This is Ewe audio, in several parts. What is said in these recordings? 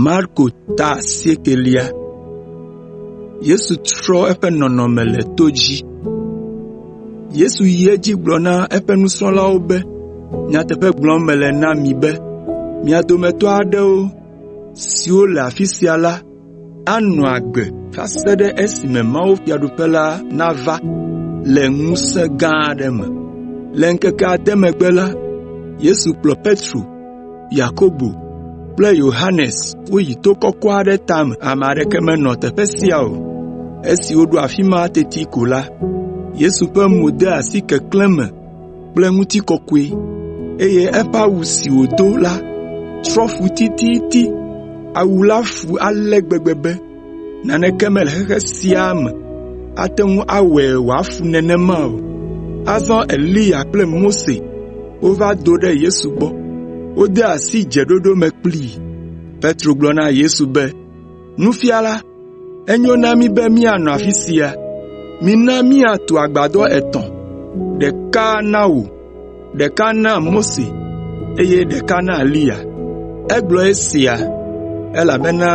Marko ta asiekɛlia. Yesu trɔ eƒe nɔnɔme le to dzi. Yesu yi edzi gblɔ na eƒe nusrɔ̃lawo be, “Nyateƒe gblɔm mele na mi be, mia dometɔ aɖewo siwo le afi sia la anɔ agbe va se ɖe esime mawufiaɖuƒe la nava le ŋusẽ gã aɖe me.” Le ŋkeke ade megbe la, Yesu kplɔ Petro, Yakobo kple Yohanes woyi to kɔkɔ aɖe tame. Ame aɖeke menɔ teƒe sia o. Esi woɖo afi ma teti ko la, Yesu ƒe mo de asi keklẽ me kple ŋutikɔkɔe, eye eƒe awu si wòdo la trɔ fu tititi. Awu la fu ale gbegbe be naneke mele xexe sia me ate ŋu awɔe wòafu nenema o. Azɔ Eliya kple Mose wova do ɖe Yesu gbɔ. Wode asi dzeɖoɖo me kplii. Petro gblɔ na Yesu be, “Nufiala, enyo na mí be míanɔ afi sia. Mína míatu agbadɔ etɔ̃, ɖeka na wò, ɖeka na Mose, eye ɖeka na Eliya.” (Egblɔ esia, elabena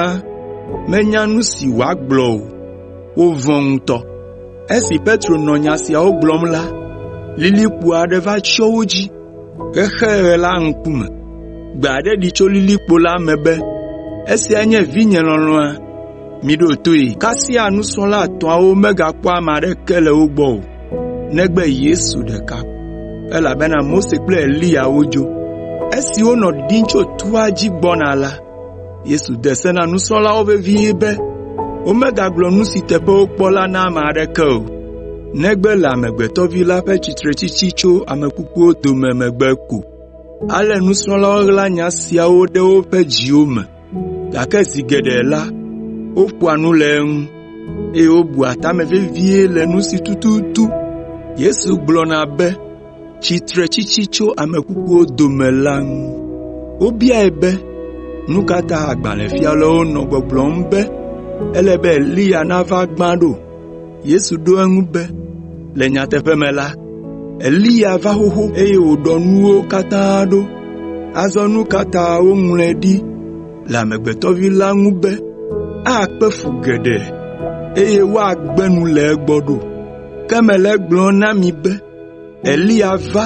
menya nu si wòagblɔ o. Wovɔ̃ ŋutɔ.) Esi Petro nɔ nya siawo gblɔm la, lilikpo aɖe va tsyɔ wo dzi. Xexeɣe la ŋkume, gbe aɖe ɖi tso lilikpo la me be, “Esia nye vinye lɔlɔ̃a, miɖo toe.” Kasia nusrɔ̃la etɔ̃awo megakpɔ ame aɖeke le wo gbɔ o, negbe Yesu ɖeka ko, elabena Mose kple Eliya wodzo. Esi wonɔ ɖiɖim tso toa dzi gbɔna la, Yesu de se na nusrɔ̃lawo vevie be womegagblɔ nu si teƒe wokpɔ la na ame aɖeke o, negbe le Amegbetɔ Vi la ƒe tsitretsitsi tso ame kukuwo dome megbe ko. Ale nusrɔ̃lawo ɣla nya siawo ɖe woƒe dziwo me, gake zi geɖe la, woƒoa nu le eŋu, eye wobua tame vevie le nu si tututu Yesu gblɔna be, tsitretsitsi tso ame kukuwo dome la ŋu. Wobiae be, “Nu ka ta agbalẽfialawo nɔ gbɔgblɔm be ele be Eliya nava gbã ɖo?” Yesu ɖo eŋu be, “Le nyateƒe me la, Eliya va xoxo, eye wòɖɔ nuwo katã ɖo. Azɔ nu ka ta woŋlɔe ɖi le Amegbetɔ Vi la ŋu be, akpe fu geɖe, eye woagbe nu le egbɔ ɖo? Ke mele egblɔm na mi be Eliya va,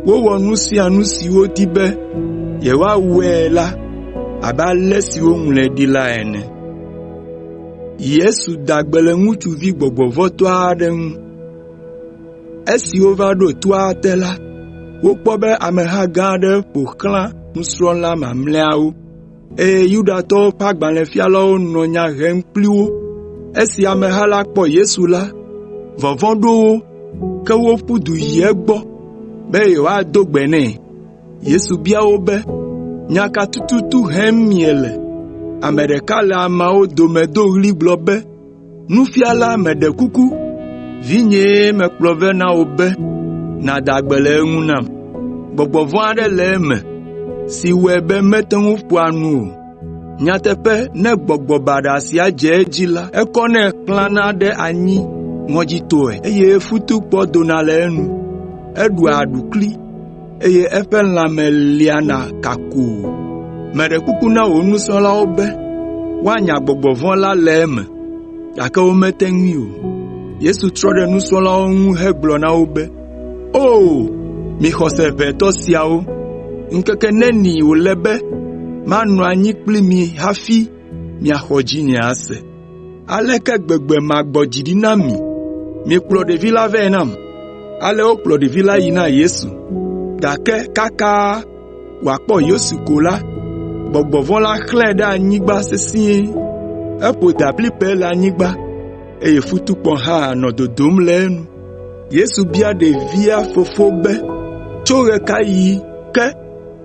wowɔ nu sia nu si wodi be yewoawɔe la abe ale si woŋlɔe ɖi la ene. Yesu da gbe le ŋutsuvi gbɔgbɔvɔ̃tɔ aɖe ŋu. Esi wova ɖo toa te la, wokpɔ be ameha gã aɖe ƒo xlã nusrɔ̃la mamlɛawo. eye Yudatɔwo ƒe agbalẽfialawo nɔ nya hem kpli wo. Esi ameha la kpɔ Yesu la, vɔvɔ̃ ɖo wo, ke woƒu du yi egbɔ be yewoado gbe nɛ. Yesu bia wo be, “Nya ka tututu hem miele?” Ame ɖeka le ameawo dome do ɣli gblɔ be, “Nufiala, meɖe kuku, vinyee mekplɔ vɛ na wò be nàda gbe le eŋu nam. Gbɔgbɔ vɔ̃ aɖe le eme si wɔe be mete ŋu ƒoa nu o. Nyateƒe ne gbɔgbɔ baɖa sia dze edzi la, ekɔnɛ xlãna ɖe anyi ŋɔdzitɔe eye futukpɔ dona le enu. Eɖua aɖukli. eye eƒe lãme liana kakoo. Meɖe kuku na wò nusrɔ̃lawo be woanya gbɔgbɔ vɔ̃ la le eme, gake womete ŋui o.” Yesu trɔ ɖe nusrɔ̃lawo ŋu hegblɔ na wo be, “O, mi xɔse ʋɛ tɔ siawo! Ŋkeke neni wòle be manɔ anyi kpli mi hafi miaxɔ dzinye ase? “Aleke gbegbe magbɔ dzi ɖi na mi? Mikplɔ ɖevi la vɛ nam.” Ale wokplɔ ɖevi la yi na Yesu. Gake kaka wòakpɔ Yesu ko la, gbɔgbɔ vɔ̃ la xlãe ɖe anyigba sesĩe. Eƒo dablibɛ le anyigba, eye futukpɔ hã nɔ dodom le enu. Yesu bia ɖevia fofo be, “Tso ɣekaɣi ke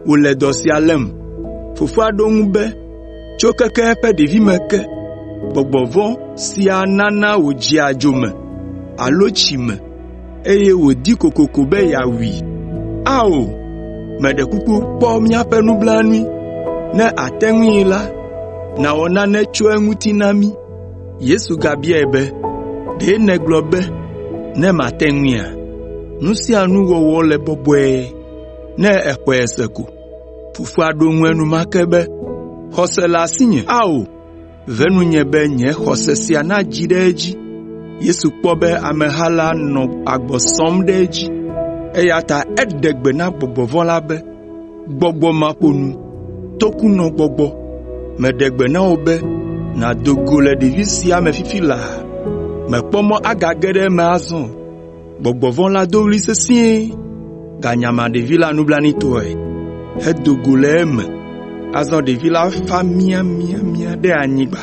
wòle dɔ sia lém?” Fofoa ɖo eŋu be, Tso keke eƒe ɖevime ke, gbɔgbɔ vɔ̃ sia nana wòdzea dzo me alo tsi me, eye wòdi kokoko be yeawui. Ao, meɖe kuku kpɔ míaƒe nublanui. Ne àte ŋui la, nàwɔ nane tso eŋuti na mí.” Yesu gabiae be, “Ɖe nègblɔ be, ‘Ne mate ŋuia?’ Nu sia nu wɔwɔ le bɔbɔe ne èxɔe se ko.” Fofoa ɖo eŋu enumake be, “Xɔse le asinye. Ao, ve nunye be nye xɔse sia nadzi ɖe edzi.” Yesu kpɔ be ameha la nɔ agbɔ sɔm ɖe edzi, eya ta eɖe gbe na gbɔgbɔ vɔ̃ la be, “Gbɔgbɔ maƒonu, tokunɔgbɔgbɔ, meɖe gbe na wò be nàdo go le ɖevi sia me fifi laa! Mèkpɔ mɔ agage ɖe eme azɔ o.” Gbɔgbɔ vɔ̃ la do ɣli sesĩe ganyama ɖevi la nublanuitɔe hedo go le eme. Azɔ ɖevi la fa miamiamia ɖe anyigba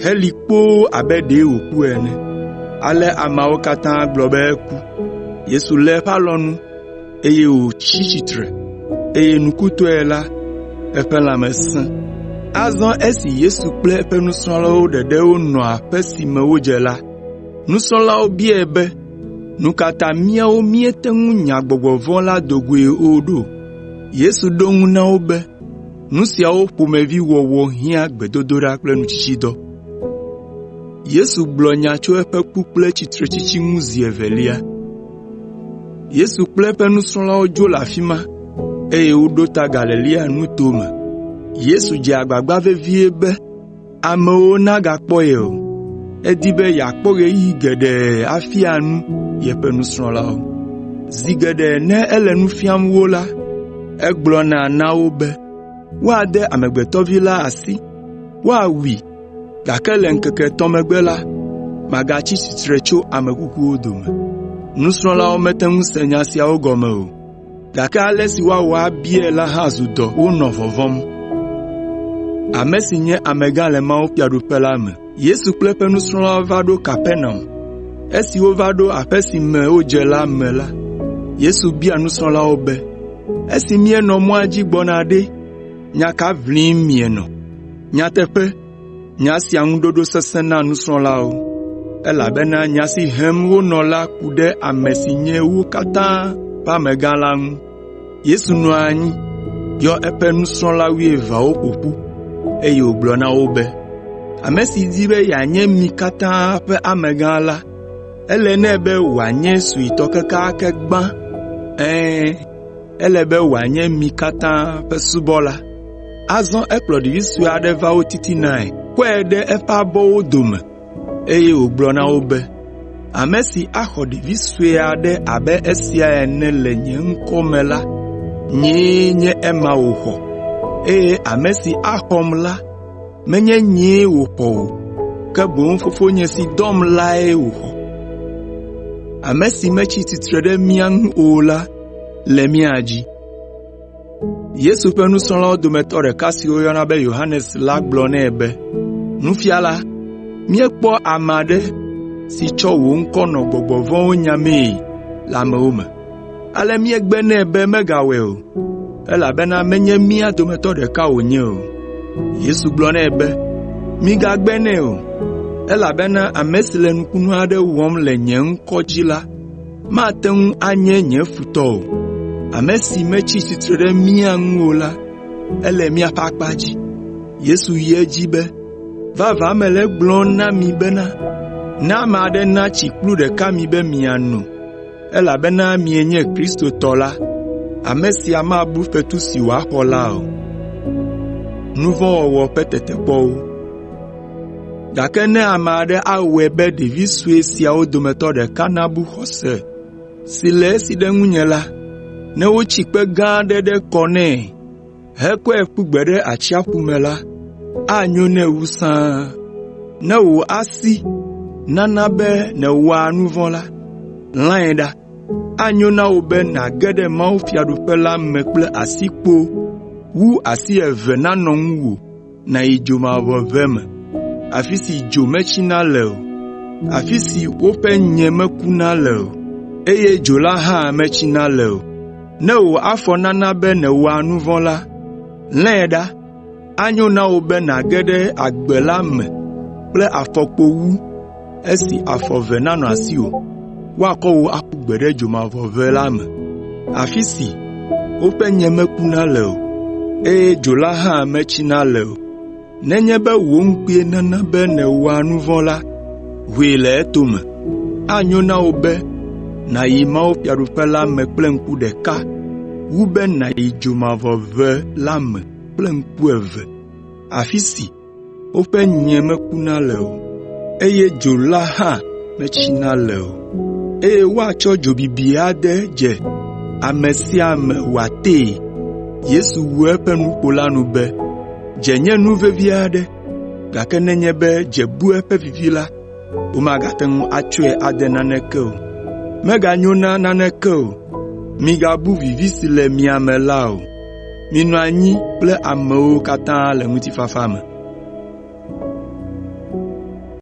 heli kpoo abe ɖee wòku ene. Ale ameawo katã gblɔ be eku. Yesu lé eƒe alɔnu, eye wòtsi tsitre, eye nukutɔe la, eƒe lãme sẽ. Azɔ esi Yesu kple eƒe nusrɔ̃lawo ɖeɖe wonɔ aƒe si me wodze la, Nusrɔ̃lawo biae be, “Nu ka ta míawo míete ŋu nya gbɔgbɔ vɔ̃ la do goe o ɖo?” Yesu ɖo eŋu na wo be, “Nu siawo ƒomevi wɔwɔ hiã gbedodoɖa kple nutsitsidɔ.” Yesu kple eƒe nusrɔ̃lawo dzo le afi ma, eye woɖo ta Galilea nuto me. amewo nagakpɔ ye o. Edi be yeakpɔ ɣeyiɣi geɖe afia nu yeƒe nusrɔ̃lawo. Zi geɖe ne ele nu fiam wo la, egblɔna na wo be, “Woade Amegbetɔ Vi la asi, woawui, gake le ŋkeke etɔ̃ megbe la, magatsi tsitre tso ame kukuwo dome.” Nusrɔ̃lawo mete ŋu se nya siawo gɔme o. gake ale si woawɔ abiae la hã zu dɔ wonɔ vɔvɔ̃m. Yesu kple eƒe nusrɔ̃lawo va ɖo Kapernaum. Esi wova ɖo aƒe si me wodze la me la, Yesu bia nusrɔ̃lawo be, “Esi mienɔ mɔa dzi gbɔna ɖe, nya ka ʋlim mienɔ? Nyateƒe Nya sia ŋu ɖoɖo sesẽ na nusrɔ̃lawo, elabena nya si hem wonɔ la ku ɖe ame si nye wo katã ƒe amegã la ŋu. Yesu nɔ anyi, yɔ eƒe nusrɔ̃la wuieveawo ƒo ƒu, eye wògblɔ na wo be, “Ame si di be yeanye mi katã ƒe amegã la, ele nɛ be wòanye suetɔ kekeake gbã. Ɛ̃, ele be wòanye mi katã ƒe subɔla. Azɔ ekplɔ ɖevi sue aɖe va wo titinae, kɔe ɖe eƒe abɔwo dome, eye wògblɔ na wo be, “Ame si axɔ ɖevi sue aɖe abe esia ene le nye ŋkɔ me la, nyee nye ema wòxɔ, eye ame si axɔm la, menye nyee wòxɔ o, ke boŋ Fofonye si dɔm lae wòxɔ. Yesu ƒe nusrɔ̃lawo dometɔ ɖeka si woyɔna be Yohanes la gblɔ nɛ be, “Nufiala, míekpɔ ame aɖe si tsɔ wò ŋkɔ nɔ gbɔgbɔ vɔ̃wo nyamee le amewo me, ale míegbe nɛ be megawɔe o, elabena menye mía dometɔ ɖeka wònye o.” Yesu gblɔ nɛ be, “Migagbe nɛ o, elabena ame si le nukunu aɖe wɔm le nye ŋkɔ dzi la, mate ŋu anye nye futɔ o. Ame si metsi tsitre ɖe mía ŋu o la, ele míaƒe akpa dzi.” Yesu yi edzi be, “Vavã mele egblɔm na mi bena, ne ame aɖe natsi kplu ɖeka mi be miano, elabena mienye Kristo tɔ la, ame sia mabu fetu si wòaxɔ la o. Gake ne ame aɖe awɔe be ɖevi sue siawo dometɔ ɖeka nabu xɔse si le esi ɖe ŋunye la, ne wotsi kpe gã aɖe ɖe kɔ nɛ hekɔe ƒu gbe ɖe atsiaƒu me la, anyo nɛ wu sãa. Ne wò asi nana be nèwɔa nu vɔ̃ la, lãe ɖa. Anyo na wò be nàge ɖe mawufiaɖuƒe la me kple asikpo wu asi eve nanɔ ŋuwò nàyi dzomavɔʋe me, afi si dzo metsina le o, afi si woƒe nyẽ mekuna le o, eye dzo la hã metsina le o. Ne wò afɔ nana be nèwɔa nu vɔ̃ la, lãe ɖa. Anyo na wò be nàge ɖe agbe la me kple afɔkpo wu “Esi afɔ eve nanɔ asiwò, woakɔ wò aƒu gbe ɖe dzomavɔʋe la me, afi si woƒe nye mekuna le o, eye dzo la hã metsina le o. Nenye be wò ŋkue nana be nèwɔa nu vɔ̃ la, hoe le etome. Anyo na wò be nàyi mawufiaɖuƒe la me kple ŋku ɖeka wu be nàyi dzomavɔʋe la me kple ŋku eve. woƒe nyie mekuna le o, eye dzo la hã metsina le o, eye woatsɔ dzo bibi ade dze ame sia ame wòatee.” Yesu wu eƒe nuƒo la nu be, “Dze nye nu vevi aɖe, gake nenye be dze bu eƒe vivi la, womagate ŋu atsɔe ade naneke o. Meganyo na naneke o. Migabu vivi si le mia me la o.” “Minɔ anyi kple amewo katã le ŋutifafa me.”